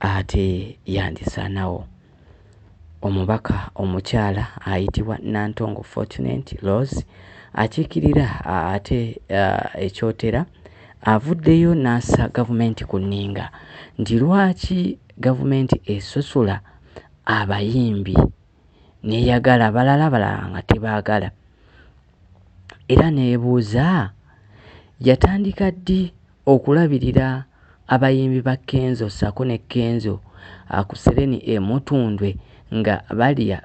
Ate yandisaanawo omubaka omukyala ayitibwa Nantongo Fortunate Rose akiikirira ate e Kyotera avuddeyo n'assa gavumenti ku nninga nti lwaki gavumenti esosola abayimbi n'eyagala abalala abalala nga tebaagala era n'ebuuza yatandika ddi okulabirira abayimbi ba Kenzo ssaako ne Kenzo akusereni e Mutundwe nga balya,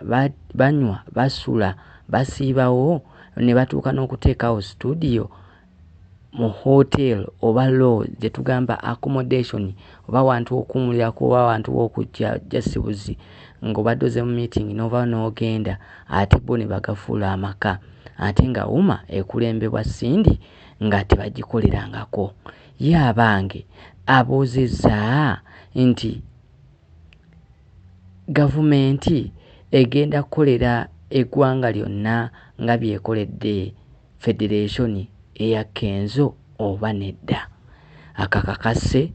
banywa, basula, basiibawo ne batuuka n'okuteekawo situdiyo mu hotel oba lodge gyetugamba accommodation oba awantu wokuwumulirako oba awantu wokujja just buzi nga obadde oze mu meeting novawo nogenda ate bo nebagafuula amaka ate nga uma ekulembebwa Cindy nga tebagikolerangako ye abange abuuzizza nti gavumenti egenda kukolera eggwanga lyonna nga byekoledde. federeesoni eya Kenzo oba nedda akakakase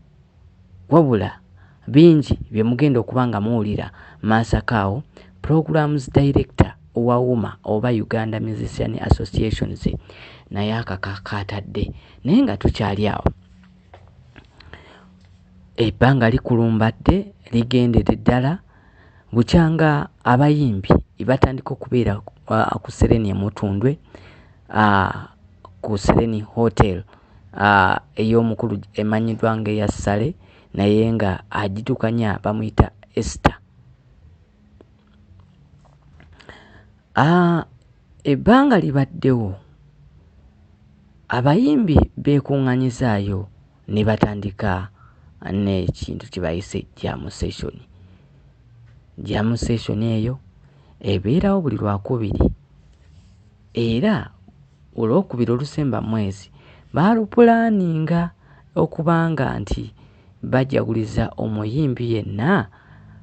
wabula bingi bye mugenda okuba nga muwulira Masaka awo Programs Director wa UMA oba Uganda Musician Associations naye akaka kaatadde naye nga tukyali awo ebbanga likulumbatte ligendedde ddala. bukyanga abayimbi batandika okubeera uh, ku sereni emutundwe uh, ku sereni hotel uh, ey'omukulu emanyiddwa nga eya sale naye nga agitukanya bamuyita ester uh, ebbanga libaddewo abayimbi beekuŋŋanyizaayo ne batandika n'ekintu kye bayise jam session. Jam session eyo ebeerawo buli Lwakubiri era Olwokubiri olusemba mu mwezi baalupulaaninga okubanga nti bajaguliza omuyimbi yenna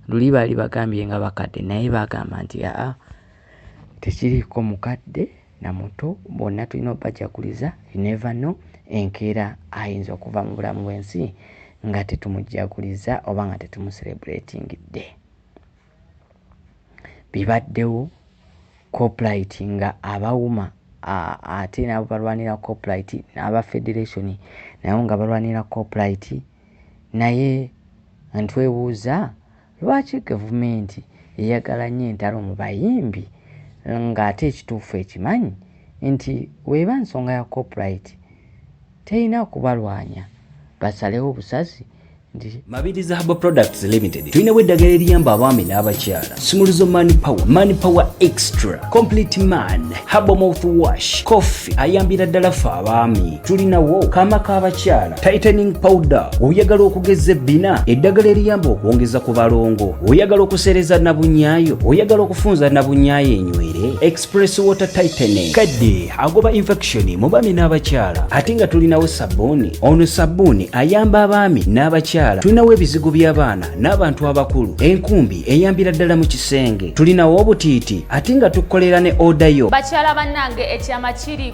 luli baali bagambye nga bakadde naye baagamba nti aa tekiriiko mukadde. na muto bonna tulina obajaguliza you never know enkeera ayinza okuva mu bulamu bwensi nga tetumujagulizza oba nga tetumuserebratingidde bibaddewo coplit nga abawuma ate nabo balwanira coplit n'aba federation nabo nga balwanira coplit naye ntwebuuza Lwaki gavumenti eyagala nnyo entalo mu bayimbi ng'ate ekituufu ekimanyi nti bw'eba nsonga ya copyright terina kubalwanya basalewo busazi nti Mabirizi Herbal Products Limited tulinawo eddagala eriyamba abaami n'abakyala sumuluzo man power man power extra complete man herbal mouth wash coffee ayambira ddala ffe abaami tulinawo kaama k'abakyala tightening powder oyagala okugeza ebbina eddagala eriyamba okwongeza ku balongo oyagala okuseereza nabunyaayo oyagala okufunza nabunyaayo enywere express water tightening kadde agoba infection mu baami n'abakyala ate nga tulinawo sabbuuni ono sabbuuni ayamba abaami n'abakyala tulinawo ebizigo by'abaana n'abantu abakulu enkumbi eyambira ddala mu kisenge tulinawo obutiiti ate nga tukolera ne odayo bakyala bannange ekyama kiri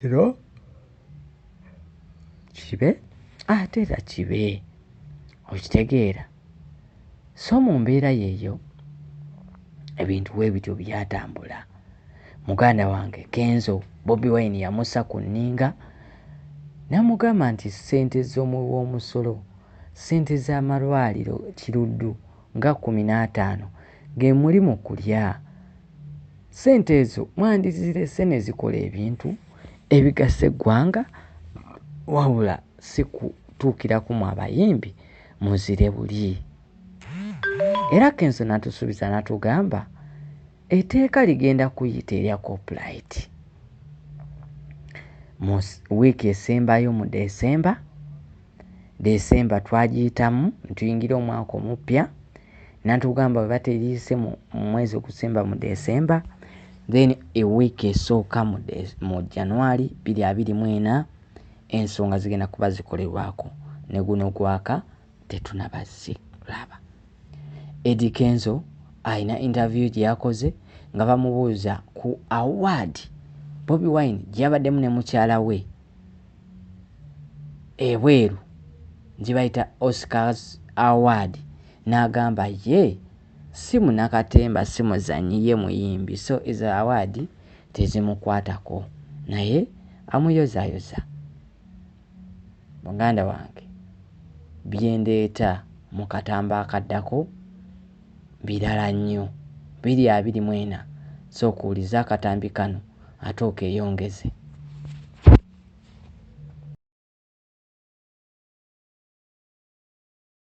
ro kibe ate era kibe okitegeera so mu mbeera yeeyo ebintu we bityo byatambula muganda wange kenzo bobi wine yamusa ku nninga namugamba nti ssente z'omuwi w'omusolo ssente z'amalwaliro kiruddu nga kkumi n'ataano ge muli mu kulya. Ssente ezo mwandizirese ne zikola ebintu ebigasa eggwanga wabula si kutuukira ku mwe abayimbi muzire buli. Era Kenzo n'atusuubiza n'atugamba etteeka ligenda kuyita erya Copyright mu wiiki esembayo mu December. December twagiyitamu ne tuyingira omwaka omuppya, n'atugamba bwe bategiyise mu mwezi ogusemba mu December, then a week esooka mu De, mu January bbiri abiri mu ena, ensonga zigenda kuba zikolerwako. Ne guno gwaka tetunaba zi, laba. Eddy Kenzo alina interview gye yakoze nga bamubuuza ku award Bobi Wine gye yabaddemu ne mukyala we, ebweru gye bayita Oscars Award n'agamba ye si munnakatemba, si muzannyi ye muyimbi so ezo awaadi tezimukwatako naye amuyozaayoza. Muganda wange bye ndeeta mu katambo akaddako. birala nnyo. Biri abiri mu ena, sooka owulize akatambi kano ate okeeyongeze.